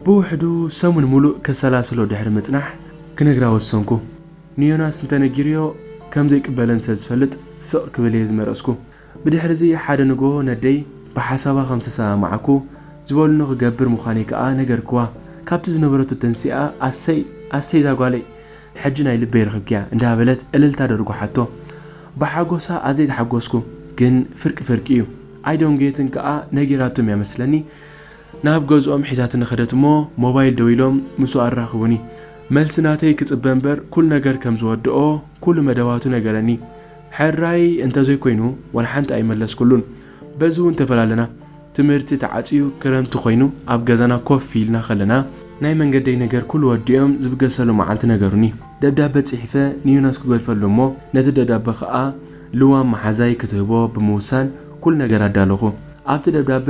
Speaker 1: ብውሕዱ ሰሙን ምሉእ ከሰላስሎ ድሕሪ ምጽናሕ ክነግራ ወሰንኩ። ንዮናስ እንተ ነጊረዮ ከም ዘይቅበለኒ ስለ ዝፈልጥ ስቕ ክብል እየ ዝመረጽኩ። ብድሕርዚ ሓደ ንግሆ ነደይ ብሓሳባ ከም ዝተሰማማዕኩ ዝበሉኒ ክገብር ምዃነይ ከኣ ነገርክዋ። ካብቲ ዝነበረቶ ተንሲኣ ኣሰይ ኣሰይ ዛጓለይ ሕጂ ናይ ልበይ ረኽብክያ እንዳበለት እልልታ ደርጉሓቶ። ብሓጎሳ ኣዘይ ተሓጎስኩ ግን ፍርቂ ፍርቂ እዩ ኣይዶን ጌትን ከኣ ነጊራቶም እያ መስለኒ ናብ ገዝኦም ሒዛትኒ ከደት እሞ ሞባይል ደዊሎም ምስኡ ኣራኽቡኒ። መልሲ ናተይ ክጽበ እምበር ኩሉ ነገር ከም ዝወደኦ ኩሉ መደባቱ ነገረኒ። ሕራይ እንተዘይኮይኑ ዋላ ሓንቲ ኣይመለስኩሉን። በዚ'ውን ተፈላለና። ትምህርቲ ተዓጽዩ ክረምቲ ኮይኑ ኣብ ገዛና ኮፍ ኢልና ከለና፣ ናይ መንገደይ ነገር ኩሉ ወዲኦም ዝብገሰሉ መዓልቲ ነገሩኒ። ደብዳበ ጽሒፈ ንዮናስ ክገድፈሉ እሞ ነቲ ደብዳበ ከኣ ልዋም መሓዛይ ክትህቦ ብምውሳን ኩሉ ነገር ኣዳለኹ። ኣብቲ ደብዳበ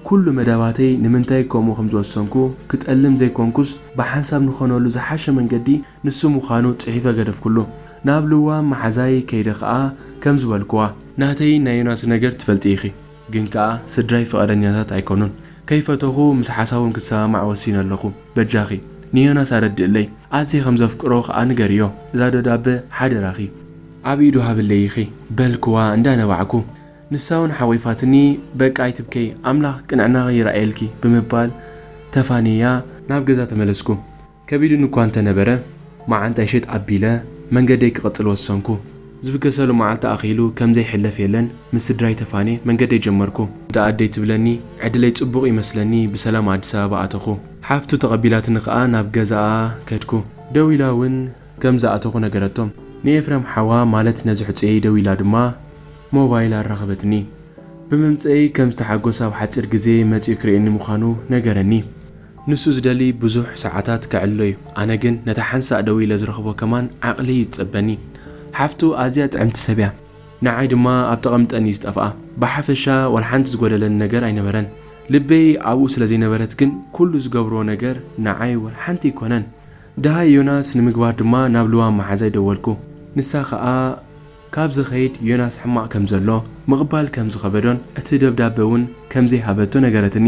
Speaker 1: ኩሉ መደባተይ ንምንታይ ከምኡ ከምዝወሰንኩ ክጠልም ዘይኮንኩስ ብሓንሳብ ንኾነሉ ዝሓሸ መንገዲ ንሱ ምዃኑ ጽሒፈ ገደፍኩሉ። ናብ ልዋም መሓዛይ ከይደ ከኣ ከምዚ በልኩዋ። ናተይን ናይ ዮናስን ነገር ትፈልጢ ኢኺ። ግን ከኣ ስድራይ ፍቓደኛታት ኣይኮኑን። ከይፈተኹ ምስ ሓሳቦም ክሰማማዕ ወሲነ ኣለኹ። በጃኺ ንዮናስ ኣረድእለይ። ኣዝየ ከም ዘፍቅሮ ከኣ ንገርዮ። እዛ ደብዳበ ሓደራኺ ኣብ ኢዱ ሃብለይ ኢኺ። በልኩዋ እንዳ ነባዕኩ። ንሳውን ሓቚፋትኒ በቃ ኣይትብከዪ ኣምላኽ ቅንዕናኺ ይርኣየልኪ ብምባል ተፋንየያ ናብ ገዛ ተመለስኩ። ከቢዱኒ እኳ እንተ ነበረ፣ መዓንጣይ ሸጥ ኣቢለ መንገደይ ክቕጽል ወሰንኩ። ዝብገሰሉ መዓልቲ ኣኺሉ ከም ዘይሕለፍ የለን፣ ምስ ስድራይ ተፋንየ መንገደይ ጀመርኩ። እንተ ኣደይ ትብለኒ ዕድለይ ጽቡቕ እዩ መስለኒ ብሰላም ኣዲስ ኣበባ ኣተኹ። ሓፍቱ ተቐቢላትኒ ከኣ ናብ ገዛኣ ከድኩ። ደው ኢላ እውን ከም ዝኣተኹ ነገረቶም። ንኤፍረም ሓዋ ማለት ነዚ ሕጹየይ ደው ኢላ ድማ ሞባይል ኣራኸበትኒ። ብምምጽኤይ ከም ዝተሓጎሰ ኣብ ሓጺር ግዜ መጺኡ ክርእየኒ ምዃኑ ነገረኒ። ንሱ ዝደሊ ብዙሕ ሰዓታት ከዕልሎ'ዩ፣ ኣነ ግን ነታ ሓንሳእ ደዊለ ዝረኽቦ ከማን ዓቕሊ'ዩ ዝጸበኒ። ሓፍቱ ኣዝያ ጥዕምቲ ሰብ'ያ። ንዓይ ድማ ኣብ ተቐምጠን'ዩ ዝጠፍኣ። ብሓፈሻ ዋላ ሓንቲ ዝጎደለኒ ነገር ኣይነበረን። ልበይ ኣብኡ ስለ ዘይነበረት ግን ኩሉ ዝገብሮ ነገር ንዓይ ዋላ ሓንቲ ኣይኮነን። ደሃይ ዮናስ ንምግባር ድማ ናብ ልዋም መሓዛይ ደወልኩ። ንሳ ከኣ። ካብ ዝኸይድ ዮናስ ሕማቕ ከም ዘሎ ምቕባል ከም ዝኸበዶን እቲ ደብዳበ እውን ከም ዘይሃበቶ ነገረትኒ።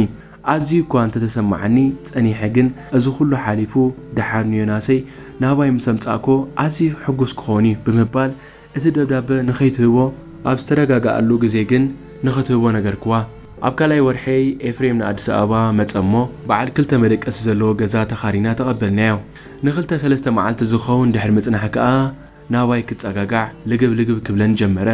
Speaker 1: ኣዝዩ እኳ እንተ ተሰማዓኒ ጸኒሐ ግን እዚ ኹሉ ሓሊፉ ደሓር ንዮናሰይ ናባይ ምስ ኣምጻእክዎ ኣዝዩ ሕጉስ ክኸውን እዩ ብምባል እቲ ደብዳበ ንኸይትህቦ ኣብ ዝተረጋግኣሉ ግዜ ግን ንኽትህቦ ነገርክዋ። ኣብ ካልኣይ ወርሒ'ይ ኤፍሬም ንኣዲስ ኣበባ መጸ እሞ በዓል ክልተ መደቀሲ ዘለዎ ገዛ ተኻሪና ተቐበልናዮ። ንኽልተ ሰለስተ መዓልቲ ዝኸውን ድሕሪ ምጽናሕ ከኣ ናባይ ክጸጋጋዕ ልግብ ልግብ ክብለኒ ጀመረ።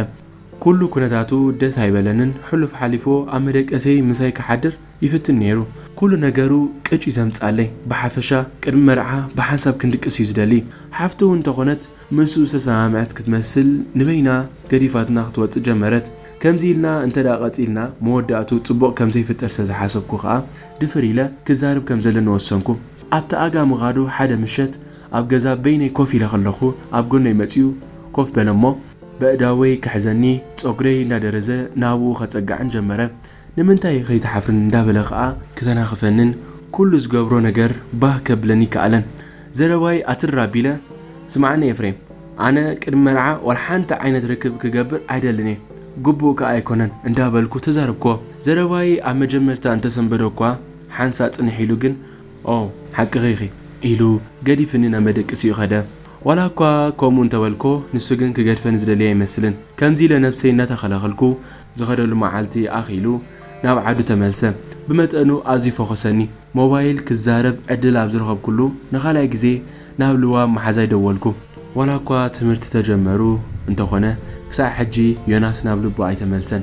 Speaker 1: ኩሉ ኩነታቱ ደስ ኣይበለንን፣ ሕሉፍ ሓሊፉ ኣብ መደቀሲየይ ምሳይ ክሓድር ይፍትን ነይሩ። ኩሉ ነገሩ ቅጭ እዩ ዘምጽኣለይ፣ ብሓፈሻ ቅድሚ መርዓ ብሓንሳብ ክንድቅስ እዩ ዝደሊ። ሓፍቱ እውን እንተኾነት ምስኡ ዝተሰማምዐት ክትመስል ንበይና ገዲፋትና ክትወጽእ ጀመረት። ከምዚ ኢልና እንተድኣ ቀጺልና መወዳእትኡ ጽቡቕ ከም ዘይፍጠር ስለ ዝሓሰብኩ ከኣ ድፍር ኢለ ክዛረብ ከም ዘለኒ ወሰንኩ። ኣብቲ ኣጋ ምኻዱ ሓደ ምሸት ኣብ ገዛ በይነይ ኮፍ ኢለ ከለኹ ኣብ ጎነይ መጺኡ ኮፍ በለ እሞ በእዳወይ ክሕዘኒ ጸጉረይ እንዳደረዘ ናብኡ ከጸግዓን ጀመረ ንምንታይ ከይትሓፍርን እንዳበለ ከኣ ክተናኽፈንን ኩሉ ዝገብሮ ነገር ባህ ከብለኒ ኣይከኣለን ዘረባይ ኣትርር ኣቢለ ስምዓኒ ኤፍሬም ኣነ ቅድሚ መርዓ ዋላ ሓንቲ ዓይነት ርክብ ክገብር ኣይደልን እየ ግቡእ ከኣ ኣይኮነን እንዳበልኩ ተዛረብክዎ ዘረባይ ኣብ መጀመርታ እንተሰንበደ'ኳ ሓንሳእ ጽንሕ ኢሉ ግን ኦ ሓቅኺ ኢኺ ኢሉ ገዲፍኒ ናብ መደቅሲኡ ከደ። ዋላኳ ከምኡ እንተበልኩዎ ንሱ ግን ክገድፈኒ ዝደለየ ኣይመስልን። ከምዚ ኢለ ነብሰይ እናተኸላኸልኩ ዝኸደሉ መዓልቲ ኣኺሉ ናብ ዓዱ ተመልሰ። ብመጠኑ ኣዝዩ ፈኾሰኒ። ሞባይል ክዛረብ ዕድል ኣብ ዝረኸብኩሉ ንኻልኣይ ግዜ ናብ ልዋም መሓዛይ ደወልኩ። ዋላኳ ትምህርቲ ተጀመሩ እንተኾነ ክሳዕ ሕጂ ዮናስ ናብ ልቡ ኣይተመልሰን።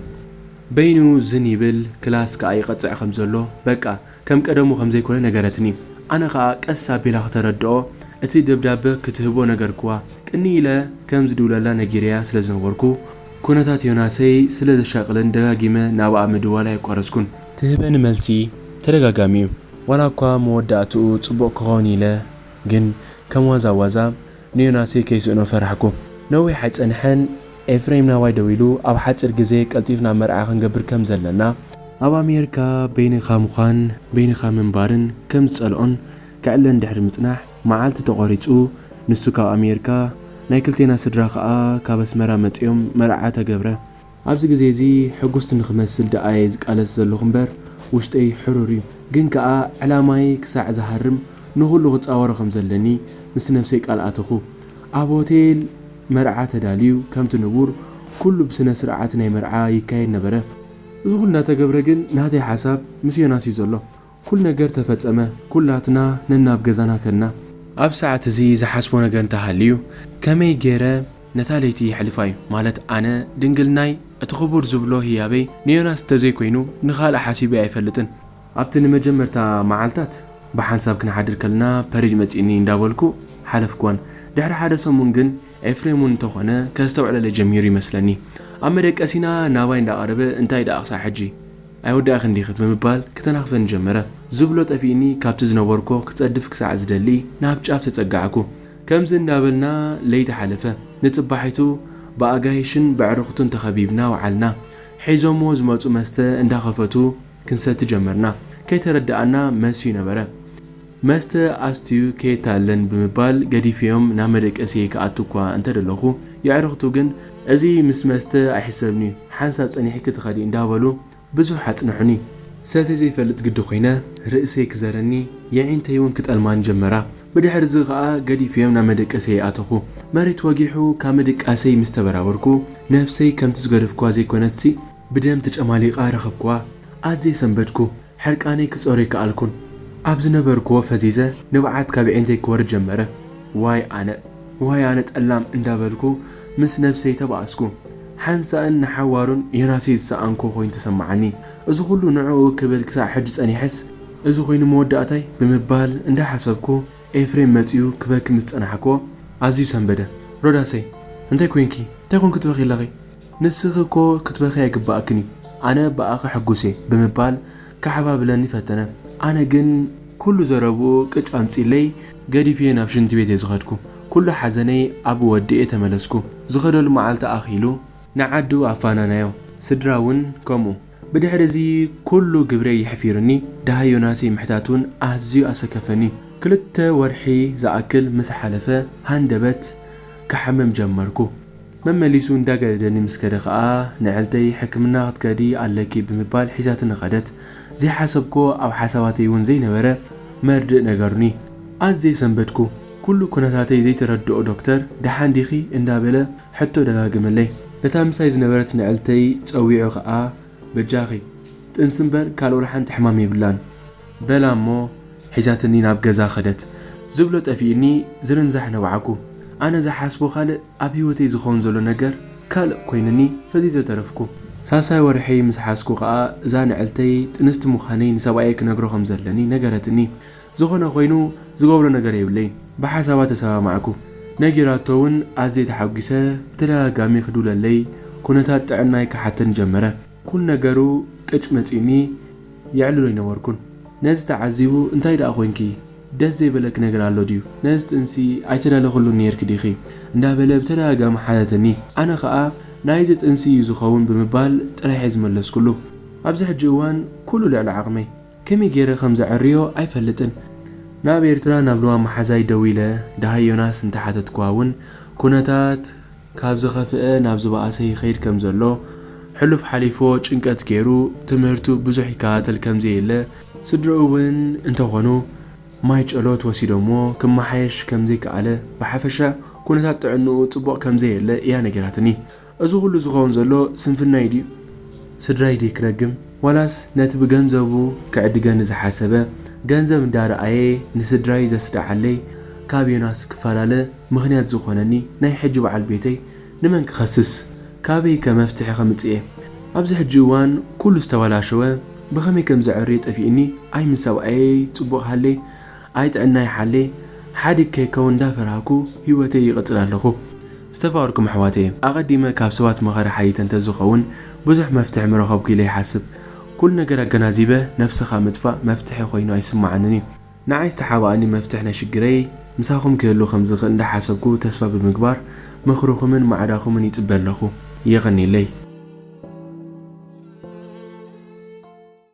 Speaker 1: በይኑ ዝን ይብል ክላስ ከኣ ይቐጽዕ ከም ዘሎ በቃ ከም ቀደሙ ከም ዘይኮነ ነገረትኒ። ኣነ ከኣ ቀስ ኣቢላ ክተረድኦ እቲ ደብዳበ ክትህቦ ነገርክዋ። ቅንይ ኢለ ከም ዝድውለላ ነጊረያ ስለ ዝነበርኩ ኩነታት ዮናሰይ ስለ ዘሻቅልን ደጋጊመ ናብኣ ምድዋል ኣየቋረጽኩን። ትህበኒ መልሲ ተደጋጋሚ'ዩ ዋላኳ መወዳእትኡ ጽቡቅ ክኸውን ኢለ ግን ከም ዋዛ ዋዛ ንዮናስይ ከይስእኖ ፈራሕኩ። ነዊሕ ኣይጸንሐን ኤፍሬም ናባይ ደዊሉ ኣብ ሓጺር ግዜ ቀልጢፍና መርዓ ክንገብር ከም ዘለና፣ ኣብ ኣሜርካ በይንኻ ምዃን በይንኻ ምንባርን ከም ዝጸልኦን ከዕለን ድሕሪ ምጽናሕ መዓልቲ ተቖሪጹ ንሱ ካብ ኣሜርካ ናይ ክልቴና ስድራ ከኣ ካብ ኣስመራ መጺኦም መርዓ ተገብረ። ኣብዚ ግዜ እዚ ሕጉስቲ ንክመስል ደኣ እየ ዝቃለስ ዘለኹ እምበር ውሽጠይ ሕሩር እዩ ግን ከኣ ዕላማይ ክሳዕ ዝሃርም ንኹሉ ክጻወሮ ከም ዘለኒ ምስ ነብሰይ ቃል ኣተኹ ኣብ ሆቴል መርዓ ተዳልዩ ከምቲ ንቡር ኩሉ ብስነ ስርዓት ናይ መርዓ ይካየድ ነበረ እዚ ኩሉ እንዳተገብረ ግን ናተይ ሓሳብ ምስ ዮናስ እዩ ዘሎ ኩሉ ነገር ተፈጸመ፣ ኩላትና ነናብ ገዛና ከድና። ኣብ ሰዓት እዚ ዝሓስቦ ነገር እንተ ሃልዩ ከመይ ገይረ ነታ ለይቲ የሕልፋ እዩ፣ ማለት ኣነ ድንግልናይ እቲ ክቡር ዝብሎ ህያበይ ንዮናስ እንተ ዘይኮይኑ ንኻልእ ሓሲበዮ ኣይፈልጥን። ኣብቲ ንመጀመርታ መዓልታት ብሓንሳብ ክንሓድር ከለና ፐሪድ መጺእኒ እንዳ በልኩ ሓለፍኩወን። ድሕሪ ሓደ ሰሙን ግን ኤፍሬም እውን እንተ ኾነ ከስተውዕለለይ ጀሚሩ ይመስለኒ። ኣብ መደቀሲና ናባይ እንዳ ቀረበ እንታይ ደኣ ክሳዕ ሕጂ? ኣይወዳእክን ዲኺ ብምባል ክተናኽፈኒ ጀመረ። ዝብሎ ጠፊእኒ ካብቲ ዝነበርኩዎ ክጸድፍ ክሳዕ ዝደሊ ናብ ጫፍ ተጸጋዕኩ። ከምዚ እንዳበልና ለይቲ ሓለፈ። ንጽባሒቱ ብኣጋይሽን በዕርኽቱን ተኸቢብና ወዓልና። ሒዞምዎ ዝመጹ መስተ እንዳኸፈቱ ክንሰቲ ጀመርና። ከይተረደኣና መሲዩ ነበረ። መስተ ኣስትዩ ከየታልለን ብምባል ገዲፈዮም ናብ መደቀሲየይ ክኣቱ እኳ እንተ ደለኹ፣ የዕርኽቱ ግን እዚ ምስ መስተ ኣይሕሰብን'ዩ፣ ሓንሳብ ጸኒሕኪ ትኸዲ እንዳበሉ ብዙሕ ኣጽንሑኒ። ሰትየ ዘይፈልጥ ግዲ ኮይነ፣ ርእሰይ ክዘረኒ፣ የዒንተይ'ውን ክጠልማኒ ጀመራ። ብድሕር'ዚ ከኣ ገዲፈዮም ናብ መደቀሲየይ ኣተኹ። መሬት ወጊሑ ካብ ምድቃሰይ ምስ ተበራበርኩ፣ ነብሰይ ከምቲ ዝገደፍኩዋ ዘይኮነትሲ ብደም ተጨማሊቓ ረኸብኩዋ። ኣዝየ ሰንበድኩ። ሕርቃነይ ክጸሩ ኣይከኣልኩን ኣብ ዝነበርክዎ ፈዚዘ ንብዓት ካብ ኣዒንተይ ክወርድ ጀመረ ዋይ ኣነ ዋይ ኣነ ጠላም እንዳበልኩ ምስ ነብሰይ ተባኣስኩ ሓንሳእን ንሓዋሩን ዮናስይ ዝሰኣንኩ ኮይኑ ተሰማዓኒ እዚ ኩሉ ንዕኡ ክብል ክሳዕ ሕጂ ጸኒሐስ እዚ ኮይኑ መወዳእታይ ብምባል እንዳሓሰብኩ ኤፍሬም መጺኡ ክበኪ ምስ ጸናሕክዎ ኣዝዩ ሰንበደ ሮዳሰይ እንታይ ኮንኪ እንታይ ኮንኪ ትበኽይ ኣለኺ ንስኺ እኮ ክትበኽዪ ኣይግብኣክን እዩ፣ ኣነ ብኣኺ ሕጉስ እየ ብምባል ከሓባብለኒ ፈተነ። ኣነ ግን። ኩሉ ዘረብኡ ቅጭ ኣምጺእለይ ገዲፈዮ ናብ ሽንቲ ቤት እየ ዝኸድኩ። ኩሉ ሓዘነይ ኣብኡ ወዲኤ ተመለስኩ። ዝኸደሉ መዓልቲ ኣኺሉ። ንዓዱ ኣፋናናዮ፣ ስድራ እውን ከምኡ። ብድሕሪ እዚ ኩሉ ግብረይ ይሕፊሩኒ፣ ደሃይ ዮናሰይ ምሕታት እውን ኣዝዩ ኣሰከፈኒ። ክልተ ወርሒ ዝኣክል ምስ ሓለፈ ሃንደበት ክሓምም ጀመርኩ። መመሊሱ እንዳ ገደደኒ ምስ ከደ ከኣ ንዕልተይ ሕክምና ክትከዲ ኣለኪ ብምባል ሒዛትኒ ከደት። ዘይሓሰብክዎ ኣብ ሓሳባተይ ውን ዘይነበረ መርድእ ነገሩኒ። ኣዝየ ሰንበድኩ። ኩሉ ኩነታተይ ዘይተረድኦ ዶክተር ደሓን ዲኺ እንዳ በለ ሕቶ ደጋገመለይ። ነታ ምሳይ ዝነበረት ንዕልተይ ጸዊዑ ከኣ በጃኺ ጥንሲ ምበር ካልእ ወላ ሓንቲ ሕማም የብላን በላ እሞ ሒዛትኒ ናብ ገዛ ከደት። ዝብሎ ጠፊኡኒ ዝርንዛሕ ነባዕኩ። ኣነ ዝሓስቦ ካልእ ኣብ ሂወተይ ዝከውን ዘሎ ነገር ካልእ ኮይኑኒ ፈዚዘ ተረፍኩ። ሳልሳይ ወርሐይ ምስ ሓዝኩ ከኣ እዛ ንዕልተይ ጥንስቲ ምዃነይ ንሰብኣየይ ክነግሮ ከም ዘለኒ ነገረትኒ። ዝኾነ ኮይኑ ዝገብሮ ነገር የብለይን ብሓሳባ ተሰማማዕኩ። ነጊራቶ ውን ኣዝየ ተሓጒሰ ብተደጋጋሚ ክድውለለይ ኩነታት ጥዕናይ ክሓተኒ ጀመረ። ኩሉ ነገሩ ቅጭ መጺኡኒ የዕልሎ ኣይነበርኩን ነዚ ተዓዚቡ እንታይ ደኣ ኮንኪ ደስ ዘይበለኪ ነገር ኣሎ ድዩ ነዚ ጥንሲ ኣይተዳለኽሉን ኔርኪ ዲኺ እንዳበለ ብተደጋጋሚ ሓተተኒ ኣነ ከኣ ናይዚ ጥንሲ እዩ ዝኸውን ብምባል ጥራሕ'የ ዝመለስኩሉ ኣብዚ ሕጂ እዋን ኩሉ ልዕሊ ዓቕመይ ከመይ ጌረ ከም ዘዐርዮ ኣይፈልጥን ናብ ኤርትራ ናብ ልዋም መሓዛይ ደዊለ ደሃይ ዮናስ እንተሓተትክዋ ውን ኩነታት ካብ ዝኸፍኤ ናብ ዝበኣሰ ይኸይድ ከም ዘሎ፣ ሕሉፍ ሓሊፎ ጭንቀት ገይሩ ትምህርቱ ብዙሕ ይከታተል ከም ዘየለ፣ ስድርኡ እውን እንተኾኑ ማይ ጨሎት ወሲዶምዎ ክመሓየሽ ከም ዘይከኣለ፣ ብሓፈሻ ኩነታት ጥዕንኡ ጽቡቕ ከም ዘየለ ኢያ ነጊራትኒ። እዚ ኩሉ ዝኸውን ዘሎ ስንፍናይ ድዩ? ስድራይ ድየ ክረግም? ዋላስ ነቲ ብገንዘቡ ክዕድገኒ ዝሓሰበ፣ ገንዘብ እንዳ ረኣየ ንስድራይ ዘስደዓለይ ካብ ዮናስ ክፈላለ፣ ምኽንያት ዝኾነኒ ናይ ሕጂ በዓል ቤተይ ንመን ክኸስስ ካበይ ከ መፍትሒ ከምጽእ'የ ኣብዚ ሕጂ እዋን ኩሉ ዝተበላሸወ ብኸመይ ከም ዘዐርዮ ጠፊእኒ ኣይ ምስ ሰብኣየይ ጽቡቕ ሃሌ ኣይ ጥዕናይ ሓሌ ሓዲግ ከይከውን እንዳፈራህኩ ሂወተይ ይቕጽል ኣለኹ ዝተፋቕርኩም ኣሕዋተየ ኣቐዲመ ካብ ሰባት መኸረ ሓይይተ እንተዝኸውን ብዙሕ መፍትሒ ምረኸብኩ ኢለ ይሓስብ ኩሉ ነገር ኣገናዚበ ነብስኻ ምጥፋእ መፍትሒ ኮይኑ ኣይስመዓንን'ዩ። ንዓይ ዝተሓባኣኒ መፍትሕ ናይ ሽግረይ ምሳኹም ክህሉ ከምዝኽእል እንዳሓሰብኩ ተስፋ ብምግባር ምኽርኹምን ማዕዳኹምን ይጽበ ኣለኹ። የቐኔለይ።